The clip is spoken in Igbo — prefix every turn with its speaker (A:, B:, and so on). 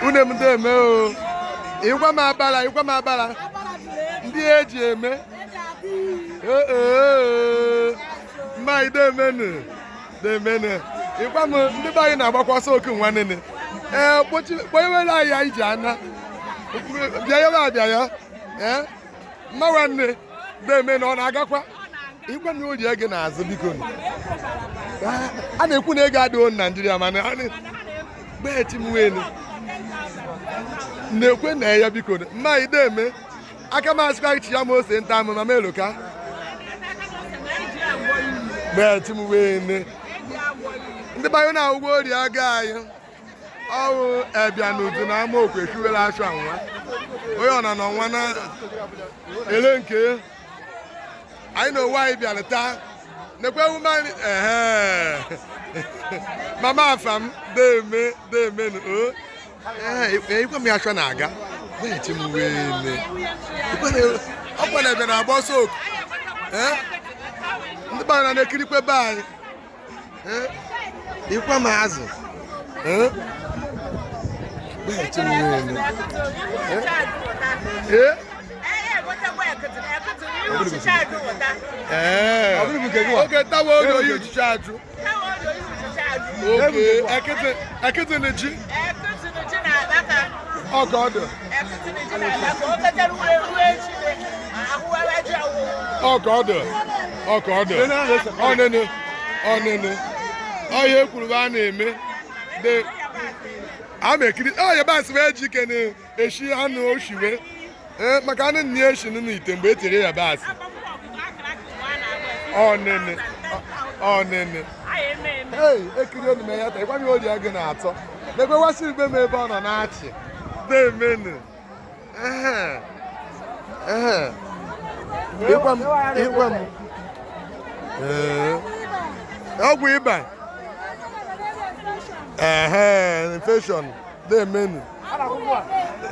A: unu emde eme o ịgwa m abala ịgwa m abala ndị eji eme mma idemenu demenu ịgwa m ndị be anyị na-agbakwa ọsọ oku nwanne ee kpọnyewere anyị anyị ji ana bịa ya bịa ya ee mma nwanne deme na ọ na-agakwa ịgwa na oji ego na-azụ biko a na-ekwu na ego adịghị naijiria mana gbechi m welu na-ekwe na ya biko mma ideme aka m asịkwa chi ya ma ose nta amụ ma m eloka gbechi m welu ndị banye na ụgwọ ori aga anyị ọwụ abịa n'udu na ama okwe kiwere achụ anwa onye ọna na ọnwa na ele nke anyị na onwe anyị bịara taa nekwe ume anyị ehe mama afa m deme deme na o ee ikwe m ya chọ na-aga na-eche m uwe ele ọ kwana ebe na-agba ọsọ oku ee ndị gbara na-ekirikwe be anyị ikwe m azụ ee oge tawa oge oyi uchichi ajụ oge ekịtị na ji ọka ọdụ ọka ọdụ ọka ọdụ ọnụnụ ọnụnụ ọhịa ekwuru a na-eme de a na-ekiri ọhịa basị bụ eji ike na-eshi anụ oshiwe ee maka anụ nne ya eshi nụ ite mgbe e tiri ya basị ọnụnụ ọnụnụ ei ekiri enu m ya taa ịgwa m ori agụ na-atọ na-ekwewasị igbe m ebe ọ nọ na-achị demenu ịgwa m ịgwa m ọgwụ ịba ee infection demenu